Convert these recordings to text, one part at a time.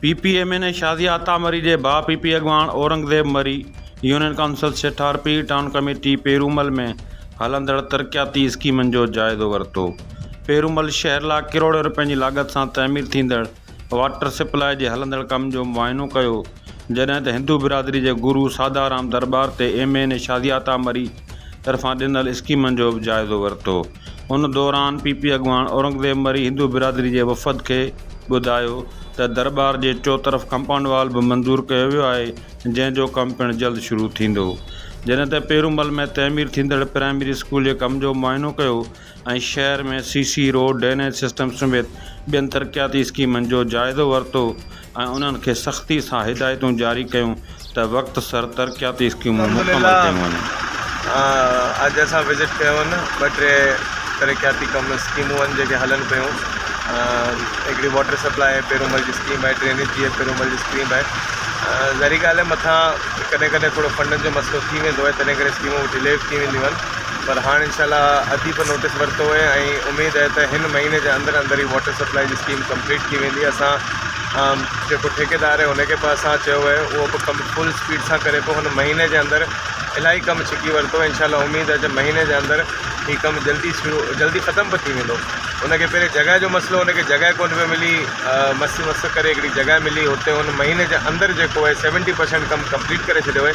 P P M N A Shazia Atta Marri جي ڀاء P P اڳواڻ Aurangzeb Marri union council Sethar Pir town committee Piromal ۾ هلندڙ ترقياتي اسڪيمن جو جائزو ورتو پيرومل شهر لا ڪروڙين روپين جي لاڳت سان تعمير ٿيندڙ واٽر سپلاء جي هلندڙ ڪم جو معائنو ڪيو جڏهن ته هندو برادري جي گرو سادارام درٻار تي M N A Shazia Atta Marri طرفان ڏنل اسڪيمن جو به جائزو ورتو. ان دوران پي پي اڳواڻ اورنگزيب مري هندو برادري جي وفد کي ٻڌايو ته درٻار جي چوطرف ڪمپائونڊ وال به منظور ڪيو ويو آهي جنهن جو ڪم پڻ جلد شروع ٿيندو. جڏهن ته پيرومل ۾ تعمير ٿيندڙ پرائمري اسڪول جي ڪم جو معائنو ڪيو ۽ شهر ۾ C C road, drainage system سميت ٻين ترقياتي اسڪيمن جو جائزو ورتو ۽ انهن کي سختي سان هدايتون جاري ڪيون ته وقت سر ترقياتي اسڪيمون مڪمل ڪيون وڃن. اڄ اسان وزٽ ڪيو ان ٻه ٽي ترقياتي ڪم اسڪيمون ان جيڪي هلن پيون هڪڙي واٽر سپلاء پيرومل جي اسڪيم آهي ڊرينيج جي پيرومل جي اسڪيم آهي ظاهري ڳالهه آهي مٿان ڪڏهن ڪڏهن ٿورو فنڊن جو مسئلو ٿي ويندو آهي تڏهن ڪري اسڪيمون ڊلي به ٿي وينديون آهن پر هاڻ انشاء الله اديب نوٽيس ورتو آهي ۽ اميد آهي ته هن مهيني جي اندر اندر ئي واٽر سپلاء جي اسڪيم ڪمپليٽ ٿي ويندي اسان جيڪو ٺيڪيدار آهي ان کي به اسان چيو آهي اهو به ڪم فل اسپيڊ سان ڪري پيو هن مهيني جي اندر الاهي ڪم ڇڪي ورتو انشاء الله اميد آهي ته مهيني جي اندر هي ڪم جلدي شروع جلدي ختم به ٿي ويندو ان کي پهرين جڳهه جو مسئلو ان کي جڳهه ڪونه پيو ملي مس مس ڪري هڪڙي جڳهه ملي هتي هن مهيني جي اندر جيڪو آهي سيونٽي پرسينٽ ڪم ڪمپليٽ ڪري ڇڏيو آهي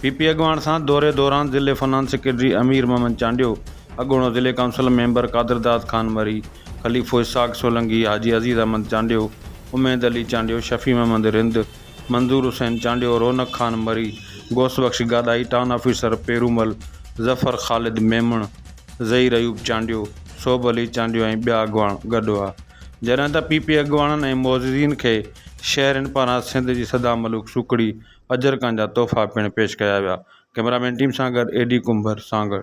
پي پي اڳواڻ سان دوري دوران ضلعي فنانس سيڪريٽري امير محمد چانڊيو، اڳوڻو ضلعي ڪائونسل ميمبر قادرداد خان مري، خليفو اسحاق سولنگي، حاجي عزيز احمد چانڊيو، اميد علي چانڊيو، شفيع محمد رند، منظور حسين چانڊيو، رونق خان مري، غوث بخش گاڏاهي، ٽائون آفيسر پيرومل، ظفر خالد ميمڻ، ظهير ايوب چانڊيو، صوڀ علي چانڊيو ۽ ٻيا اڳواڻ گڏ هئا. جڏهن ته پي پي اڳواڻن ۽ معززين کي شهرين پاران سنڌ جي سدا ملوڪ سوکڙي اجرڪن جا تحفا پڻ پيش ڪيا ويا ڪئميرا مين ٽيم سان گڏ اي ڊي ڪنڀر سانگهڙ